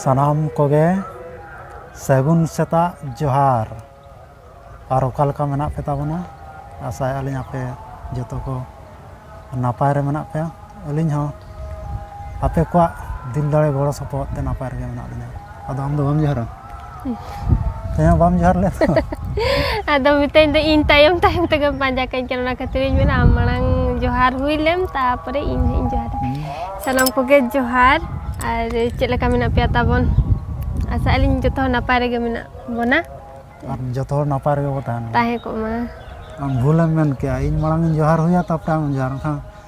ᱥᱟᱱᱟᱢ ᱠᱚᱜᱮ ᱥᱟᱹᱜᱩᱱ ᱥᱮᱛᱟᱜ ᱡᱚᱦᱟᱨ ᱟᱨ ᱚᱠᱟ ᱞᱮᱠᱟ ᱢᱮᱱᱟᱜ ᱯᱮ ᱛᱟᱵᱚᱱᱟ ᱟᱥᱟᱭᱮᱫᱼᱟ ᱞᱤᱧ ᱟᱯᱮ ᱡᱚᱛᱚ ᱠᱚ ᱱᱟᱯᱟᱭ ᱨᱮ ᱢᱮᱱᱟᱜ ᱯᱮᱭᱟ ᱟᱹᱞᱤᱧ ᱦᱚᱸ ᱟᱯᱮ ᱠᱚᱣᱟᱜ ᱫᱤᱞ ᱫᱟᱲᱮ ᱜᱚᱲᱚ ᱥᱚᱯᱚᱦᱚᱫ ᱛᱮ ᱱᱟᱯᱟᱭ ᱨᱮᱜᱮ ᱢᱮᱱᱟᱜ ᱞᱤᱧᱟᱹ ᱟᱫᱚ ᱟᱢᱫᱚ ᱵᱟᱢ ᱡᱚᱦᱟᱨᱟ ᱦᱮᱸ ᱵᱟᱢ ᱡᱚᱦᱟᱨ ᱞᱮᱫ ᱟᱫᱚ ᱢᱤᱛᱟᱹᱧ ᱫᱚ ᱤᱧ ᱛᱟᱭᱚᱢ ᱛᱟᱭᱚᱢ ᱛᱮᱜᱮ ᱯᱟᱸᱡᱟ ᱠᱟᱹᱧ ᱠᱟᱱᱟ ᱚᱱᱟ ᱠᱷᱟᱹᱛᱤᱨ ᱤᱧ ᱢᱮᱱᱟ ᱟᱢ ᱢᱟᱲᱟᱝ ᱡᱚᱦᱟᱨ ᱦᱩᱭ ᱞᱮᱢ ᱛᱟᱨᱯᱚᱨᱮ ᱤᱧ ᱦᱟᱸᱜ ᱤᱧ ᱡᱚᱦᱟᱨᱟ ᱥᱟᱱᱟᱢ ᱠᱚᱜᱮ ᱡᱚᱦᱟᱨ ᱟᱨ ᱪᱮᱫ ᱞᱮᱠᱟ ᱢᱮᱱᱟᱜ ᱯᱮᱭᱟ ᱛᱟᱵᱚᱱ ᱟᱥᱟᱜ ᱟᱹᱞᱤᱧ ᱡᱚᱛᱚ ᱦᱚᱲ ᱱᱟᱯᱟᱭ ᱨᱮᱜᱮ ᱢᱮᱱᱟᱜ ᱵᱚᱱᱟ ᱟᱨ ᱡᱚᱛᱚ ᱦᱚᱲ ᱱᱟᱯᱟᱭ ᱨᱮᱜᱮ ᱵᱚ ᱛᱟᱦᱮᱱᱟ ᱛᱟᱦᱮᱸ ᱠᱚᱜ ᱢᱟ ᱟᱢ ᱵᱷᱩᱞᱮᱢ ᱢᱮᱱ ᱠᱮᱜᱼᱟ ᱤᱧ ᱢᱟᱲᱟᱝ ᱤᱧ ᱡᱚᱦᱟᱨ ᱦᱩᱭᱟ ᱛᱟᱯᱚᱨᱮ ᱟᱢ ᱡᱚᱦᱟᱨ ᱠᱷᱟᱱ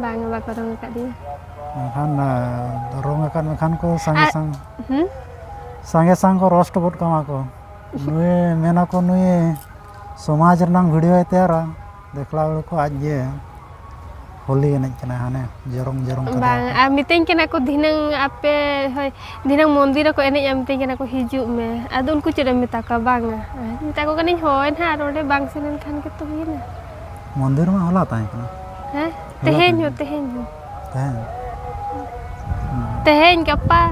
ᱵᱟᱝ ᱵᱟᱠᱚ ᱨᱚᱝ ᱟᱠᱟᱫ ᱫᱤᱧᱟ ᱢᱮᱱᱠᱷᱟᱱ ᱨᱚᱝ ᱟᱠᱟᱫ ᱢᱮᱠᱷᱟᱱ ᱠᱚ ᱥᱟᱸᱜᱮ ᱥᱟᱝ ᱥᱟᱸᱜᱮ ᱥᱟᱝ ᱠᱚ ᱨᱚᱥᱴ ᱜᱚᱫ ᱠᱟᱢᱟ ᱠᱚ ᱱᱩᱭ ᱢᱮᱱᱟᱠᱚ ᱱᱩᱭ ᱥᱚᱢᱟᱡᱽ ᱨᱮᱱᱟᱝ ᱵᱷᱤᱰᱤᱭᱳᱭ ᱛᱮᱭᱟᱨᱟ ᱫᱮᱠᱷᱞᱟ ᱦᱚᱲ ᱠᱚ ᱟᱡ ᱜᱮ ᱦᱳᱞᱤ ᱮᱱᱮᱡ ᱠᱟᱱᱟ ᱦᱟᱱᱮ ᱡᱚᱨᱚᱝ ᱡᱚᱨᱚᱝ ᱵᱟᱝ ᱟᱨ ᱢᱤᱛᱟᱹᱧ ᱠᱟᱱᱟ ᱠᱚ ᱫᱷᱤᱱᱟᱹᱝ ᱟᱯᱮ ᱦᱳᱭ ᱫᱷᱤᱱᱟᱹᱝ ᱢᱚᱱᱫᱤᱨ ᱨᱮᱠᱚ ᱮᱱᱮᱡᱼᱟ ᱢᱤᱛᱟᱹᱧ ᱠᱟᱱᱟ ᱠᱚ ᱦᱤᱡᱩᱜ ᱢᱮ ᱟᱫᱚ ᱩᱱᱠᱩ ᱪᱮᱫ ᱮᱢ ᱢᱮᱛᱟ ᱠᱚᱣᱟ ᱵᱟᱝᱟ ᱢᱮᱛᱟ ᱠᱚ ᱠᱟᱹᱱᱟᱹᱧ ᱦᱳᱭ ᱱᱟᱦᱟᱜ ᱟᱨ ᱚᱸᱰᱮ ᱵᱟᱝ ᱥᱮᱱ ᱞᱮᱱᱠᱷᱟᱱ ᱜᱮᱛᱚ ᱦᱩᱭᱮᱱᱟ ᱢᱚᱱᱫᱤᱨ ᱢᱟ ᱦᱚᱞᱟ ᱛᱟᱦᱮᱸ ᱠᱟᱱᱟ ᱦᱮᱸ ᱛᱮᱦᱮᱧ ᱦᱚᱸ ᱛᱮᱦᱮᱧ ᱦᱚᱸ ᱛᱮᱦᱮᱧ ᱛᱮᱦᱮᱧ ᱜᱟᱯᱟ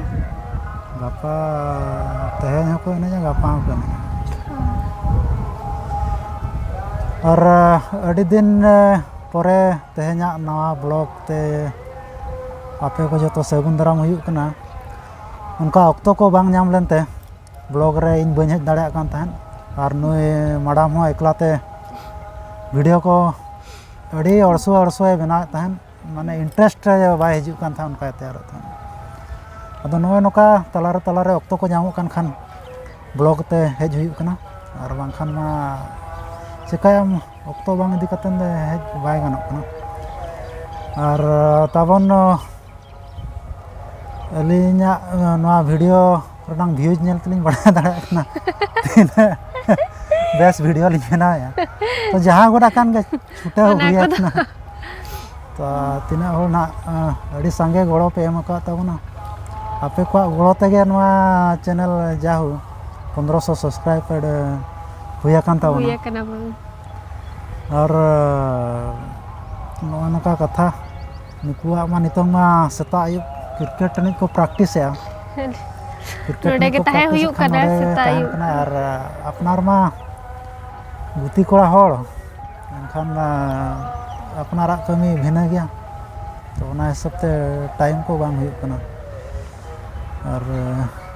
ᱜᱟᱯᱟ ᱛᱮᱦᱮᱧ ᱦᱚᱸᱠᱚ ᱮᱱᱮᱡᱟ ᱜᱟᱯᱟ ᱦᱚᱸᱠᱚ ᱮᱱᱮᱡᱟ ᱟᱨ ᱟᱹᱰᱤ ᱫᱤᱱ ᱯᱚᱨᱮ ᱛᱮᱦᱮᱧᱟᱜ ᱱᱟᱣᱟ ᱵᱞᱚᱜ ᱛᱮ ᱟᱯᱮ ᱠᱚ ᱡᱚᱛᱚ ᱥᱟᱹᱜᱩᱱ ᱫᱟᱨᱟᱢ ᱦᱩᱭᱩᱜ ᱠᱟᱱᱟ ᱚᱱᱠᱟ ᱚᱠᱛᱚ ᱠᱚ ᱵᱟᱝ ᱧᱟᱢ ᱞᱮᱱᱛᱮ ᱵᱞᱚᱠ ᱨᱮ ᱤᱧ ᱵᱟᱹᱧ ᱦᱮᱡ ᱫᱟᱲᱮᱭᱟᱜ ᱠᱟᱱ ᱛᱟᱦᱮᱸᱫ ᱟᱨ ᱱᱩᱭ ᱢᱮᱰᱟᱢ ᱦᱚᱸ ᱮᱠᱞᱟ ᱛᱮ ᱵᱷᱤᱰᱭᱳ ᱠᱚ ᱟᱹᱰᱤ ᱚᱲᱥᱳ ᱚᱲᱥᱳᱭ ᱵᱮᱱᱟᱣᱮᱫ ᱛᱟᱦᱮᱸᱫ ᱢᱟᱱᱮ ᱤᱱᱴᱟᱨᱮᱥᱴ ᱨᱮ ᱵᱟᱭ ᱦᱤᱡᱩᱜ ᱠᱟᱱ ᱛᱟᱦᱮᱸᱫ ᱚᱱᱠᱟᱭ ᱛᱮᱭᱟᱨᱮᱫ ᱛᱟᱦᱮᱸᱫ ᱟᱫᱚ ᱱᱚᱜᱼᱚᱸᱭ ᱱᱚᱝᱠᱟ ᱛᱟᱞᱟ ᱨᱮ ᱛᱟᱞᱟ ᱨᱮ ᱚᱠᱛᱚ ᱠᱚ ᱧᱟᱢᱚᱜ ᱠᱟᱱ ᱠᱷᱟᱱ ᱵᱞᱚᱠ ᱛᱮ ᱦᱮᱡ ᱦᱩᱭᱩᱜ ᱠᱟᱱᱟ ᱟᱨ ᱵᱟᱝᱠᱷᱟᱱ ᱢᱟ ᱪᱤᱠᱟᱹᱭᱟᱢ ᱚᱠᱛᱚ ᱵᱟᱝ ᱤᱫᱤ ᱠᱟᱛᱮᱫ ᱫᱚ ᱦᱮᱡ ᱵᱟᱭ ᱜᱟᱱᱚᱜ ᱠᱟᱱᱟ ᱟᱨ ᱛᱟᱵᱚᱱ ᱟᱹᱞᱤᱧᱟᱜ ᱱᱚᱣᱟ ᱵᱷᱤᱰᱤᱭᱳ ᱨᱮᱱᱟᱝ ᱵᱷᱤᱭᱩᱡᱽ ᱧᱮᱞ ᱛᱮᱞᱤᱧ ᱵᱟᱲᱟᱭ ᱫᱟᱲᱮᱭᱟᱜ ᱠᱟᱱᱟ ᱛᱤᱱᱟᱹᱜ ᱵᱮᱥ ᱵᱷᱤᱰᱤᱭᱳ ᱞᱤᱧ ᱵᱮᱱᱟᱣᱮᱫᱼᱟ ᱛᱚ ᱡᱟᱦᱟᱸ ᱜᱚᱰᱟ ᱠᱟᱱ ᱜᱮ ᱪᱷᱩᱴᱟᱹᱣ ᱚᱱᱟ ᱦᱩᱭ ᱠᱚᱫᱚ᱾ ᱟᱠᱟᱱᱟ ᱛᱚ ᱛᱤᱱᱟᱹᱜ ᱦᱚᱲ ᱱᱟᱜ ᱟᱸ, ᱟᱹᱰᱤ ᱥᱟᱸᱜᱮ ᱜᱚᱲᱚ ᱯᱮ ᱮᱢ ᱟᱠᱟᱫ ᱛᱟᱵᱚᱱᱟ ᱟᱯᱮ ᱠᱚᱣᱟᱜ ᱜᱚᱲᱚ ᱛᱮᱜᱮ ᱱᱚᱣᱟ ᱪᱮᱱᱮᱞ ᱡᱟᱦᱳ ᱯᱚᱱᱫᱨᱚᱥᱚ ᱥᱟᱵᱥᱠᱨᱟᱭᱵᱟᱨ ᱦᱩᱭ ᱟᱠᱟᱱ ᱦᱩᱭ ᱛᱟᱵᱚᱱᱟ ᱟᱠᱟᱱᱟ ᱵᱚᱱ ᱟᱨ ᱱᱚᱜᱼᱚ ᱱᱚᱝᱠᱟ ᱠᱟᱛᱷᱟ ᱱᱩᱠᱩᱣᱟᱜ ᱢᱟ ᱱᱤᱛᱚᱝ ᱢᱟ ᱥᱮᱛᱟᱜ ᱟᱹᱭᱩᱵ ᱠᱨᱤᱠᱮᱴ ᱮᱱᱮᱡ ᱠᱚ ᱯᱨᱮᱠᱴᱤᱥᱮᱜᱼᱟ ᱱᱚᱰᱮ ᱜᱮ ᱛᱟᱦᱮᱸ ᱦᱩᱭᱩᱜ ᱠᱟᱱᱟ ᱥᱮᱛᱟᱜ ᱟᱹᱭᱩᱵ ᱟᱨ ᱟᱯᱱᱟᱨ ᱢᱟ ᱜᱩᱛᱤ ᱠᱚᱲᱟ ᱦᱚᱲ ᱮᱱᱠᱷᱟᱱ ᱟᱯᱱᱟᱨᱟᱜ ᱠᱟᱹᱢᱤ ᱵᱷᱤᱱᱟᱹ ᱜᱮᱭᱟ ᱛᱚ ᱚᱱᱟ ᱦᱤᱥᱟᱹᱵ ᱛᱮ ᱴᱟᱭᱤᱢ ᱠᱚ ᱵᱟᱝ ᱦᱩᱭᱩᱜ ᱠᱟᱱᱟ ᱟᱨ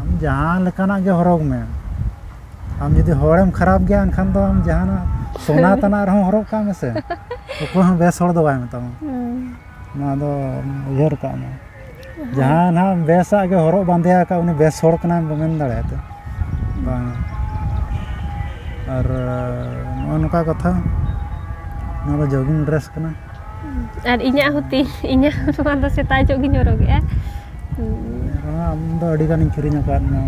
ᱟᱢ ᱡᱟᱦᱟᱸ ᱞᱮᱠᱟᱱᱟᱜ ᱜᱮ ᱦᱚᱨᱚᱜᱽ ᱢᱮ ᱟᱢ ᱡᱩᱫᱤ ᱦᱚᱲᱮᱢ ᱠᱷᱟᱨᱟᱯ ᱜᱮᱭᱟ ᱮᱱᱠᱷᱟᱱ ᱫᱚ ᱟᱢ ᱡᱟᱦᱟᱱᱟᱜ ᱥᱚᱱᱟ ᱛᱟᱱᱟᱜ ᱨᱮᱦᱚᱸ ᱦᱚᱨᱚᱜ ᱠᱟᱜ ᱢᱮᱥᱮ ᱚᱠᱚᱭ ᱦᱚᱸ ᱵᱮᱥ ᱦᱚᱲ ᱫᱚ ᱵᱟᱭ ᱢᱮᱛᱟᱢᱟ ᱱᱚᱣᱟ ᱫᱚ ᱩᱭᱦᱟᱹᱨ ᱠᱟᱜ ᱢᱮ ᱡᱟᱦᱟᱸ ᱱᱟᱦᱟᱜ ᱵᱮᱥᱟᱜ ᱜᱮ ᱦᱚᱨᱚᱜ ᱵᱟᱸᱫᱮ ᱟᱠᱟᱫ ᱩᱱᱤ ᱵᱮᱥ ᱦᱚᱲ ᱠᱟᱱᱟᱭ ᱢᱮᱱ ᱫᱟᱲᱮᱭᱟᱜ ᱛᱮ ᱵᱟᱝ ᱟᱨ ᱱᱚᱜᱼᱚ ᱱᱚᱝᱠᱟ ᱠᱟᱛᱷᱟ ᱱᱚᱣᱟ ᱫᱚ ᱡᱳᱜᱤᱝ ᱰᱨᱮᱥ ᱠᱟᱱᱟ ᱟᱨ ᱤᱧᱟᱹᱜ ᱦᱚᱸ ᱛᱤ ᱤᱧᱟᱹᱜ ᱱᱚᱣᱟ ᱫᱚ ᱥᱮᱛᱟᱜ ᱧᱚᱜ ᱜᱤᱧ ᱦᱚᱨᱚᱜᱮᱜᱼᱟ ᱟᱢ ᱫᱚ ᱟᱹᱰᱤ ᱜᱟᱱᱤᱧ ᱠᱤᱨᱤᱧ ᱟᱠᱟᱫ ᱢᱮᱭᱟ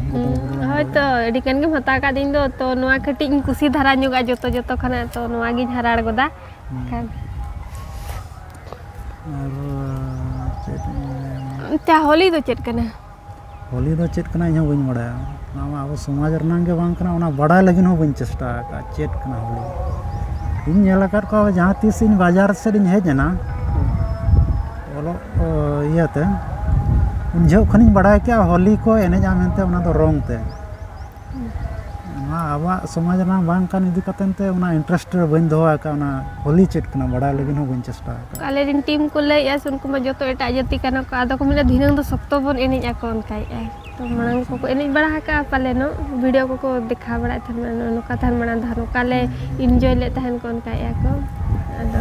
ᱦᱳᱭᱛᱚ ᱟᱹᱰᱤ ᱜᱟᱱ ᱜᱮᱢ ᱦᱟᱛᱟᱣ ᱟᱠᱟᱫ ᱤᱧ ᱫᱚ ᱛᱚ ᱱᱚᱣᱟ ᱠᱟᱹᱴᱤᱡ ᱤᱧ ᱠᱩᱥᱤ ᱫᱷᱟᱨᱟ ᱧᱚᱜᱼᱟ ᱡᱚᱛᱚ ᱡᱚᱛᱚ ᱠᱷᱚᱱᱟᱜ ᱛᱚ ᱱᱚᱣᱟ ᱜᱤᱧ ᱦᱟᱨᱟᱲ ᱜᱚᱫᱟ ᱠᱷᱟᱱ ᱟᱨ ᱪᱮᱫ ᱟᱪᱪᱷᱟ ᱦᱳᱞᱤ ᱫᱚ ᱪᱮᱫ ᱠᱟᱱᱟ ᱦᱳᱞᱤ ᱫᱚ ᱪᱮᱫ ᱠᱟᱱᱟ ᱤᱧ ᱦᱚᱸ ᱵᱟᱹᱧ ᱵᱟᱲᱟᱭᱟ ᱚᱱᱟ ᱢᱟ ᱟᱵᱚ ᱥᱚᱢᱟᱡᱽ ᱨᱮᱱᱟᱜ ᱜᱮ ᱵᱟᱝ ᱠᱟᱱᱟ ᱚᱱᱟ ᱵᱟᱲᱟᱭ ᱞᱟᱹᱜᱤᱫ ᱦᱚᱸ ᱵᱟᱹᱧ ᱪᱮᱥᱴᱟ ᱟᱠᱟᱫᱼᱟ ᱪᱮᱫ ᱠᱟᱱᱟ ᱦᱳᱞᱤ ᱤᱧ ᱧᱮᱞ ᱟᱠᱟᱫ ᱠᱚᱣᱟ ᱡᱟᱦᱟᱸ ᱛᱤᱥ ᱤᱧ ᱵᱟᱡᱟᱨ ᱥᱮᱫ ᱤᱧ ᱦᱮᱡ ᱮᱱᱟ ᱚᱞᱚᱜ ᱠᱚ ᱤᱭᱟᱹᱛᱮ ᱩᱱ ᱡᱚᱦᱚᱜ ᱠᱷᱚᱱᱤᱧ ᱵᱟᱲᱟᱭ ᱠᱮᱫᱼᱟ ᱦᱳᱞᱤ ᱠᱚ ᱮᱱᱮᱡᱼᱟ ᱢᱮᱱᱛᱮ ᱚᱱᱟ ᱫᱚ ᱨᱚᱝ ᱛᱮ ᱚᱱᱟ ᱟᱵᱚᱣᱟᱜ ᱥᱚᱢᱟᱡᱽ ᱨᱮᱱᱟᱜ ᱵᱟᱝ ᱠᱟᱱ ᱤᱫᱤ ᱠᱟᱛᱮᱫ ᱛᱮ ᱚᱱᱟ ᱤᱱᱴᱟᱨᱮᱥᱴ ᱨᱮ ᱵᱟᱹᱧ ᱫᱚᱦᱚ ᱟᱠᱟᱫᱼᱟ ᱚᱱᱟ ᱦᱳᱞᱤ ᱪᱮᱫ ᱠᱟᱱᱟ ᱵᱟᱲᱟᱭ ᱞᱟᱹᱜᱤᱫ ᱦᱚᱸ ᱵᱟᱹᱧ ᱪᱮᱥᱴᱟ ᱟᱠᱟᱫᱼᱟ ᱟᱞᱮ ᱨᱮᱱ ᱴᱤᱢ ᱠᱚ ᱞᱟᱹᱭᱮᱫᱼᱟ ᱥᱮ ᱩᱱᱠᱩ ᱢᱟ ᱡᱚᱛᱚ ᱮᱴᱟᱜ ᱡᱟᱹᱛᱤ ᱠᱟᱱᱟ ᱠᱚ ᱟᱫᱚ ᱠᱚ ᱢᱮᱱᱟ ᱫᱷᱤᱱᱟᱹᱝ ᱫᱚ ᱥᱚᱠᱛᱚ ᱵᱚᱱ ᱮᱱᱮᱡ ᱟᱠᱚ ᱚᱱᱠᱟᱭᱮᱫᱼᱟᱭ ᱛᱚ ᱢᱟᱲᱟᱝ ᱠᱚᱠᱚ ᱮᱱᱮᱡ ᱵᱟᱲᱟ ᱟᱠᱟᱫᱼᱟ ᱯᱟᱞᱮᱱᱚᱜ ᱵᱷᱤᱰᱤᱭᱳ ᱠᱚᱠᱚ ᱫᱮᱠᱷᱟᱣ ᱵᱟᱲᱟᱭᱮᱫ ᱛᱟᱦᱮᱱ ᱱᱚᱜᱼᱚ ᱱᱚᱝᱠᱟ ᱛᱟᱦᱮᱱ ᱢᱟᱲᱟᱝ ᱫᱚ ᱱᱚᱝᱠᱟ ᱞᱮ ᱤᱱᱡᱚᱭ ᱞᱮᱫ ᱛᱟᱦᱮᱱ ᱠᱚ ᱚᱱᱠᱟᱭᱮᱫᱼᱟ ᱠᱚ ᱟᱫᱚ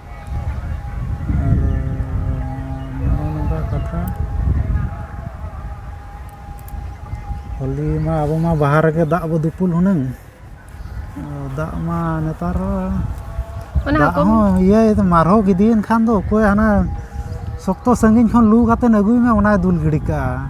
ᱟᱨ ᱱᱚᱜᱼᱚ ᱱᱚᱝᱠᱟ ᱠᱟᱛᱷᱟ ᱦᱚᱞᱤ ᱢᱟ ᱟᱵᱚ ᱢᱟ ᱵᱟᱦᱟ ᱨᱮᱜᱮ ᱫᱟᱜ ᱵᱚ ᱫᱩᱯᱩᱞ ᱦᱩᱱᱟᱹᱝ ᱫᱟᱜ ᱢᱟ ᱱᱮᱛᱟᱨ ᱫᱟᱜ ᱦᱚᱸ ᱤᱭᱟᱹ ᱢᱟᱨᱦᱚ ᱜᱤᱫᱤᱭᱮᱱ ᱠᱷᱟᱱ ᱫᱚ ᱚᱠᱚᱭ ᱦᱟᱱᱟ ᱥᱚᱠᱛᱚ ᱥᱟᱺᱜᱤᱧ ᱠᱷᱚᱱ ᱞᱩ ᱠᱟᱛᱮᱫ ᱟᱹᱜᱩᱭ ᱢᱮ ᱚᱱᱟᱭ ᱫᱩᱞ ᱜᱤᱰᱤ ᱠᱟᱜᱼᱟ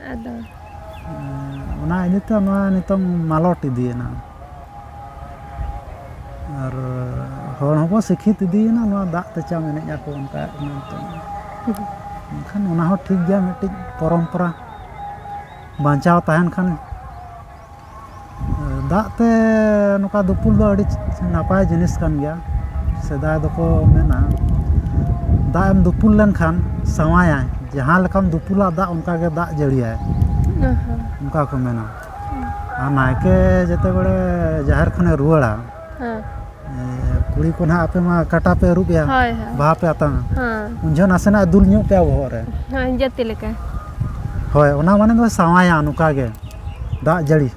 ᱟᱫᱚ ᱚᱱᱟ ᱤᱫᱤ ᱛᱮ ᱱᱚᱣᱟ ᱱᱤᱛᱚᱝ ᱢᱟᱞᱚᱴ ᱤᱫᱤᱭᱮᱱᱟ ᱟᱨ ᱦᱚᱲ ᱦᱚᱸᱠᱚ ᱥᱤᱠᱷᱤᱛ ᱤᱫᱤᱭᱮᱱᱟ ᱱᱚᱣᱟ ᱫᱟᱜ ᱛᱮᱪᱟᱢ ᱮᱱᱮᱡ ᱟᱠᱚ ᱚᱱᱠᱟ ᱱᱤᱛᱚᱝ ᱮᱱᱠᱷᱟᱱ ᱚᱱᱟ ᱦᱚᱸ ᱴᱷᱤᱠ ᱜᱮᱭᱟ ᱢᱤᱫᱴᱤᱡ ᱯᱚᱨᱚᱢᱯᱚᱨᱟ ᱵᱟᱧᱪᱟᱣ ᱛᱟᱦᱮᱱ ᱠᱷᱟᱱ ᱫᱟᱜ ᱛᱮ ᱱᱚᱝᱠᱟ ᱫᱩᱯᱩᱞ ᱫᱚ ᱟᱹᱰᱤ ᱱᱟᱯᱟᱭ ᱡᱤᱱᱤᱥ ᱠᱟᱱ ᱜᱮᱭᱟ ᱥᱮᱫᱟᱭ ᱫᱚᱠᱚ ᱢᱮᱱᱟ ᱫᱟᱜ ᱮᱢ ᱫᱩᱯᱩᱞ ᱞᱮᱱᱠᱷᱟᱱ ᱥᱟᱶᱟᱭᱟᱭ ᱡᱟᱦᱟᱸ ᱞᱮᱠᱟᱢ ᱫᱩᱯᱩᱞᱟ ᱫᱟᱜ ᱚᱱᱠᱟ ᱜᱮ ᱫᱟᱜ ᱡᱟᱹᱲᱤᱭᱟᱭ ᱚᱱᱠᱟ ᱠᱚ ᱢᱮᱱᱟ ᱟᱨ ᱱᱟᱭᱠᱮ ᱡᱮᱛᱮ ᱵᱟᱲᱮ ᱡᱟᱦᱮᱨ ᱠᱷᱚᱱᱮ ᱨᱩᱣᱟᱹᱲᱟ ᱠᱩᱲᱤ ᱠᱚ ᱱᱟᱦᱟᱜ ᱟᱯᱮ ᱢᱟ ᱠᱟᱴᱟ ᱯᱮ ᱟᱹᱨᱩᱵ ᱮᱭᱟ ᱵᱟᱦᱟ ᱯᱮ ᱟᱛᱟᱝᱟ ᱩᱱ ᱡᱚᱦᱚᱜ ᱱᱟᱥᱮᱱᱟᱜ ᱫᱩᱞ ᱧᱚᱜ ᱯᱮᱭᱟ ᱵᱚᱦᱚᱜ ᱨᱮ ᱡᱟᱹᱛᱤ ᱞᱮᱠᱟ ᱦᱳᱭ ᱚᱱᱟ ᱢᱟᱱᱮ ᱫᱚ ᱥᱟᱶᱟᱭᱟ ᱱᱚᱝᱠᱟ ᱜᱮ ᱫᱟᱜ ᱡᱟᱹᱲᱤ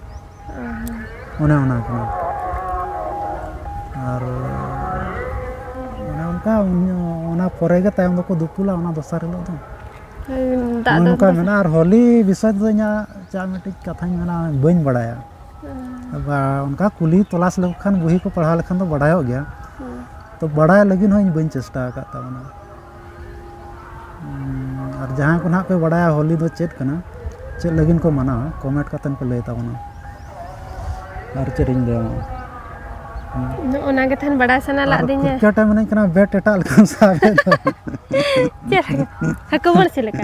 ᱚᱱᱮ ᱚᱱᱟ ᱠᱟᱱᱟ ᱟᱨ ᱚᱱᱮ ᱚᱱᱠᱟ ᱚᱱᱟ ᱯᱚᱨᱮ ᱜᱮ ᱛᱟᱭᱚᱢ ᱫᱚᱠᱚ ᱫᱩᱯᱩᱞᱟ ᱚᱱᱟ ᱫᱚᱥᱟᱨ ᱦᱤᱞᱳᱜ ᱫᱚ ᱱᱚᱝᱠᱟ ᱢᱮᱱᱟᱜᱼᱟ ᱟᱨ ᱦᱳᱞᱤ ᱵᱤᱥᱚᱭ ᱛᱮᱫᱚ ᱤᱧᱟᱹᱜ ᱪᱮᱫ ᱢᱤᱫᱴᱤᱡ ᱠᱟᱛᱷᱟᱧ ᱢᱮᱱᱟ ᱵᱟᱹᱧ ᱵᱟᱲᱟᱭᱟ ᱟᱵᱟᱨ ᱚᱱᱠᱟ ᱠᱩᱞᱤ ᱛᱚᱞᱟᱥ ᱞᱮᱠᱚ ᱠᱷᱟᱱ ᱵᱩᱦᱤ ᱠᱚ ᱯᱟᱲᱦᱟᱣ ᱞᱮᱠᱷᱟᱱ ᱫᱚ ᱵᱟᱲᱟᱭᱚᱜ ᱜᱮᱭᱟ ᱛᱚ ᱵᱟᱲᱟᱭ ᱞᱟᱹᱜᱤᱫ ᱦᱚᱸ ᱤᱧ ᱵᱟᱹᱧ ᱪᱮᱥᱴᱟ ᱟᱠᱟᱫ ᱛᱟᱵᱚᱱᱟ ᱟᱨ ᱡᱟᱦᱟᱸᱭ ᱠᱚ ᱱᱟᱦᱟᱜ ᱯᱮ ᱵᱟᱲᱟᱭᱟ ᱦᱳᱞᱤ ᱫᱚ ᱪᱮᱫ ᱠᱟᱱᱟ ᱪᱮᱫ ᱞᱟᱹᱜᱤᱫ ᱠᱚ ᱢᱟᱱᱟᱣᱟ ᱠᱚᱢᱮᱱᱴ ᱠᱟᱛᱮᱫ ᱯᱮ ᱞᱟᱹᱭ ᱛᱟᱵᱚᱱᱟ ᱟᱨ ᱪᱮᱫ ᱤᱧ ᱞᱟᱹᱭᱟ ᱚᱱᱟ ᱜᱮ ᱛᱟᱦᱮᱱ ᱵᱟᱲᱟᱭ ᱥᱟᱱᱟ ᱞᱟᱜ ᱫᱤᱧᱟ ᱠᱩᱪᱟᱴᱟ ᱢᱮᱱᱟᱹᱧ ᱠᱟᱱᱟ ᱵᱮᱴ ᱮᱴᱟᱜ ᱞᱮᱠᱟᱱ ᱥᱟᱵ ᱪᱮᱫ ᱦᱟᱹᱠᱩ ᱵᱟᱹᱲᱥᱤ ᱞᱮᱠᱟ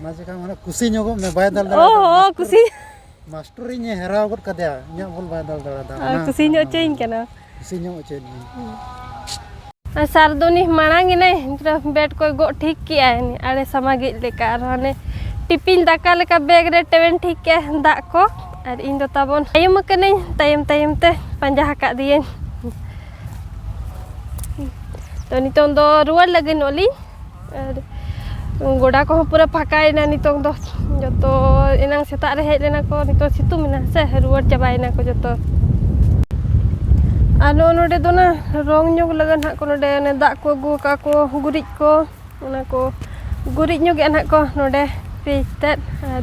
ᱚᱱᱟ ᱪᱮᱠᱟ ᱢᱟᱱᱮ ᱠᱩᱥᱤ ᱧᱚᱜᱚᱜ ᱢᱮ ᱵᱟᱭ ᱫᱟᱞ ᱫᱟᱲᱮᱭᱟᱜ ᱚ ᱠᱩᱥᱤ ᱢᱟᱥᱴᱚᱨ ᱤᱧ ᱦᱮᱨᱟᱣ ᱜᱚᱫ ᱠᱟᱫᱮᱭᱟ ᱤᱧᱟᱹᱜ ᱵᱚᱞ ᱵᱟᱭ ᱫᱟᱞ ᱫᱟᱲᱮᱭᱟᱫᱟ ᱠᱩᱥᱤ ᱧᱚᱜ ᱦᱚᱪᱚᱭᱤᱧ ᱠᱟᱱᱟ ᱠᱩᱥᱤ ᱧᱚᱜ ᱦᱚᱪᱚᱭᱤᱧ ᱟᱨ ᱥᱟᱨ ᱫᱚ ᱩᱱᱤ ᱢᱟᱲᱟᱝ ᱮᱱᱟᱭ ᱵᱮᱴ ᱠᱚᱭ ᱜᱚᱜ ᱴᱷᱤᱠ ᱠᱮᱜᱼᱟᱭ ᱟᱲᱮ ᱥᱟᱢᱟᱜᱤᱡ ᱞᱮᱠᱟ ᱟᱨ ᱦᱟᱱᱮ ᱴᱤᱯᱤᱧ ᱫᱟᱠᱟ ᱞᱮᱠᱟ ᱵᱮᱜᱽ ᱨᱮ ᱴᱮᱣᱮᱱ ᱴᱷᱤᱠ ᱠᱮᱜᱼᱟᱭ ᱫᱟᱜ ᱠᱚ ᱟᱨ ᱤᱧ ᱫᱚ ᱛᱟᱵᱚᱱ ᱛᱟᱭᱚᱢ ᱟᱠᱟᱱᱟᱹᱧ ᱛᱟᱭᱚᱢ ᱛᱟᱭᱚᱢ ᱛᱮ ᱯᱟᱸᱡᱟ ᱟᱠᱟᱫ ᱫᱤᱭᱟᱹᱧ ᱛᱚ ᱱᱤᱛᱚᱝ ᱫᱚ ᱨᱩᱣᱟᱹᱲ ᱞᱟᱹᱜᱤᱫᱚᱜ ᱞᱤᱧ ᱟᱨ ᱜᱚᱰᱟ ᱠᱚᱦᱚᱸ ᱯᱩᱨᱟᱹ ᱯᱷᱟᱸᱠᱟᱭᱮᱱᱟ ᱱᱤᱛᱚᱝ ᱫᱚ ᱡᱚᱛᱚ ᱮᱱᱟᱝ ᱥᱮᱛᱟᱜ ᱨᱮ ᱦᱮᱡ ᱞᱮᱱᱟ ᱠᱚ ᱱᱤᱛᱚᱝ ᱥᱤᱛᱩᱝ ᱮᱱᱟ ᱥᱮ ᱨᱩᱣᱟᱹᱲ ᱪᱟᱵᱟᱭᱮᱱᱟ ᱠᱚ ᱡᱚᱛᱚ ᱟᱨ ᱱᱚᱜᱼᱚ ᱱᱚᱰᱮ ᱫᱚ ᱱᱟ ᱨᱚᱝ ᱧᱚᱜᱽ ᱞᱟᱹᱜᱤᱫ ᱱᱟᱜ ᱠᱚ ᱱᱚᱰᱮ ᱚᱱᱮ ᱫᱟᱜ ᱠᱚ ᱟᱹᱜᱩ ᱟᱠᱟᱫ ᱠᱚ ᱜᱩᱨᱤᱡ ᱠᱚ ᱚᱱᱟ ᱠᱚ ᱜᱩᱨᱤᱡ ᱧᱚᱜᱮᱜᱼᱟ ᱱᱟᱜ ᱠᱚ ᱱᱚᱰᱮ ᱯᱮᱡ ᱛᱮᱫ ᱟᱨ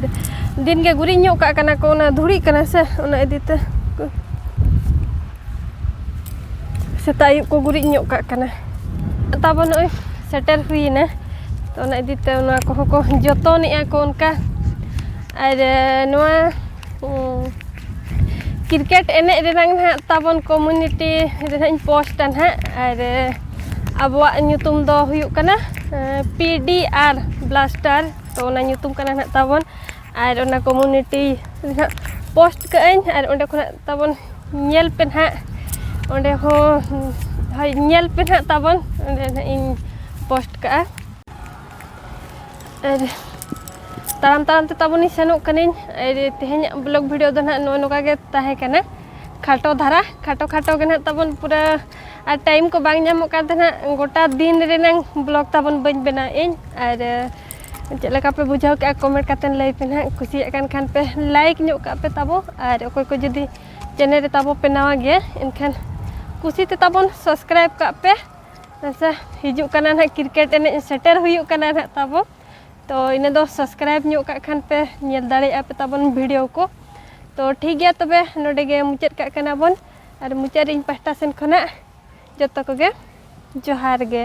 ᱫᱤᱱᱜᱮ ᱜᱩᱨᱤᱡ ᱧᱚᱜ ᱠᱟᱜ ᱠᱟᱱᱟ ᱠᱚ ᱚᱱᱟ ᱫᱷᱩᱲᱤᱜ ᱠᱟᱱᱟ ᱥᱮ ᱚᱱᱟ ᱤᱫᱤᱛᱮ ᱥᱮᱛᱟᱜ ᱟᱹᱭᱩᱵ ᱠᱚ ᱜᱩᱨᱤᱡ ᱧᱚᱜ ᱠᱟᱜ ᱠᱟᱱᱟ ᱛᱟᱵᱚ ᱱᱚᱜᱼᱚᱭ ᱥᱮᱴᱮᱨ ᱦᱩᱭᱮᱱᱟ ᱛᱚ ᱚᱱᱟ ᱤᱫᱤ ᱛᱮ ᱚᱱᱟ ᱠᱚᱦᱚᱸ ᱠᱚ ᱡᱚᱛᱚᱱᱮᱜᱼᱟ ᱠᱚ ᱚᱱᱠᱟ ᱟᱨ ᱱᱚᱣᱟ ᱠᱨᱤᱠᱮᱴ ᱮᱱᱮᱡ ᱨᱮᱱᱟᱝ ᱦᱟᱸᱜ ᱛᱟᱵᱚᱱ ᱠᱚᱢᱤᱱᱤᱴᱤ ᱨᱮ ᱦᱟᱸᱜ ᱤᱧ ᱯᱳᱥᱴᱟ ᱦᱟᱸᱜ ᱟᱨ ᱟᱵᱚᱣᱟᱜ ᱧᱩᱛᱩᱢ ᱫᱚ ᱦᱩᱭᱩᱜ ᱠᱟᱱᱟ ᱯᱤ ᱰᱤ ᱟᱨ ᱵᱞᱟᱥᱴᱟᱨ ᱛᱚ ᱚᱱᱟ ᱧᱩᱛᱩᱢ ᱠᱟᱱᱟ ᱦᱟᱸᱜ ᱛᱟᱵᱚᱱ ᱟᱨ ᱚᱱᱟ ᱠᱚᱢᱩᱱᱤᱴᱤ ᱱᱟᱦᱟᱜ ᱯᱳᱥᱴ ᱠᱟᱜ ᱟᱹᱧ ᱟᱨ ᱚᱸᱰᱮ ᱠᱷᱚᱱᱟᱜ ᱛᱟᱵᱚᱱ ᱧᱮᱞ ᱯᱮ ᱱᱟᱦᱟᱜ ᱚᱸᱰᱮ ᱦᱚᱸ ᱦᱳᱭ ᱧᱮᱞ ᱯᱮ ᱱᱟᱦᱟᱜ ᱛᱟᱵᱚᱱ ᱚᱸᱰᱮ ᱱᱟᱦᱟᱜ ᱤᱧ ᱯᱳᱥᱴ ᱠᱟᱜᱼᱟ ᱟᱨ ᱛᱟᱲᱟᱢ ᱛᱟᱲᱟᱢ ᱛᱮ ᱛᱟᱵᱚᱱᱤᱧ ᱥᱮᱱᱚᱜ ᱠᱟᱹᱱᱟᱹᱧ ᱟᱨ ᱛᱮᱦᱮᱧᱟᱜ ᱵᱞᱚᱜ ᱵᱷᱤᱰᱤᱭᱳ ᱫᱚ ᱱᱟᱦᱟᱜ ᱱᱚᱜᱼᱚ ᱱᱚᱝᱠᱟ ᱜᱮ ᱛᱟᱦᱮᱸ ᱠᱟᱱᱟ ᱠᱷᱟᱴᱚ ᱫᱷᱟᱨᱟ ᱠᱷᱟᱴᱚ ᱠᱷᱟᱴᱚ ᱜᱮ ᱱᱟᱦᱟᱜ ᱛᱟᱵᱚᱱ ᱯᱩᱨᱟᱹ ᱟᱨ ᱴᱟᱭᱤᱢ ᱠᱚ ᱵᱟᱝ ᱧᱟᱢᱚᱜ ᱠᱟᱱ ᱛᱟᱦᱮᱱᱟ ᱜᱚᱴᱟ ᱫᱤᱱ ᱨᱮᱱᱟᱝ ᱵᱞᱚᱜᱽ ᱛᱟᱵᱚᱱ ᱵᱟᱹᱧ ᱵᱮᱱᱟᱣ ᱤᱧ ᱟᱨ ᱪᱮᱫ ᱞᱮᱠᱟ ᱯᱮ ᱵᱩᱡᱷᱟᱹᱣ ᱠᱮᱜᱼᱟ ᱠᱚᱢᱮᱱᱴ ᱠᱟᱛᱮ ᱞᱟᱹᱭ ᱯᱮ ᱱᱟᱦᱟᱜ ᱠᱩᱥᱤᱭᱟᱜ ᱠᱟᱱ ᱠᱷᱟᱱ ᱯᱮ ᱞᱟᱭᱤᱠ ᱧᱚᱜ ᱠᱟᱜ ᱯᱮ ᱛᱟᱵᱚ ᱟᱨ ᱚᱠᱚᱭ ᱠᱚ ᱡᱩᱫᱤ ᱪᱮᱱᱮᱞ ᱨᱮ ᱛᱟᱵᱚ ᱯᱮ ᱱᱟᱣᱟ ᱜᱮᱭᱟ ᱮᱱᱠᱷᱟᱱ ᱠᱩᱥᱤ ᱛᱮ ᱛᱟᱵᱚᱱ ᱥᱟᱵᱥᱠᱨᱟᱭᱤᱵ ᱠᱟᱜ ᱯᱮ ᱟᱪᱪᱷᱟ ᱦᱤᱡᱩᱜ ᱠᱟᱱᱟ ᱱᱟᱦᱟᱜ ᱠᱨᱤᱠᱮᱴ ᱮᱱᱮᱡ ᱥᱮᱴᱮᱨ ᱦᱩᱭᱩᱜ ᱠᱟᱱᱟ ᱱᱟᱦᱟᱜ ᱛᱟᱵᱚ ᱛᱚ ᱤᱱᱟᱹ ᱫᱚ ᱥᱟᱵᱥᱠᱨᱟᱭᱤᱵ ᱧᱚᱜ ᱠᱟᱜ ᱠᱷᱟᱱ ᱯᱮ ᱧᱮᱞ ᱫᱟᱲᱮᱭᱟᱜᱼᱟ ᱯᱮ ᱛᱟᱵᱚᱱ ᱵᱷᱤᱰᱤᱭᱳ ᱠᱚ ᱛᱚ ᱴᱷᱤᱠ ᱜᱮᱭᱟ ᱛᱚᱵᱮ ᱱᱚᱰᱮ ᱜᱮ ᱢᱩᱪᱟᱹᱫ ᱠᱟᱜ ᱠᱟᱱᱟ ᱵᱚᱱ ᱟᱨ ᱢᱩᱪᱟᱹᱫ ᱨᱮ ᱤᱧ ᱯᱟᱥᱴᱟ ᱥᱮᱱ ᱠᱷᱚᱱᱟᱜ ᱡᱚᱛᱚ ᱠᱚᱜᱮ ᱡᱚᱦᱟᱨ ᱜᱮ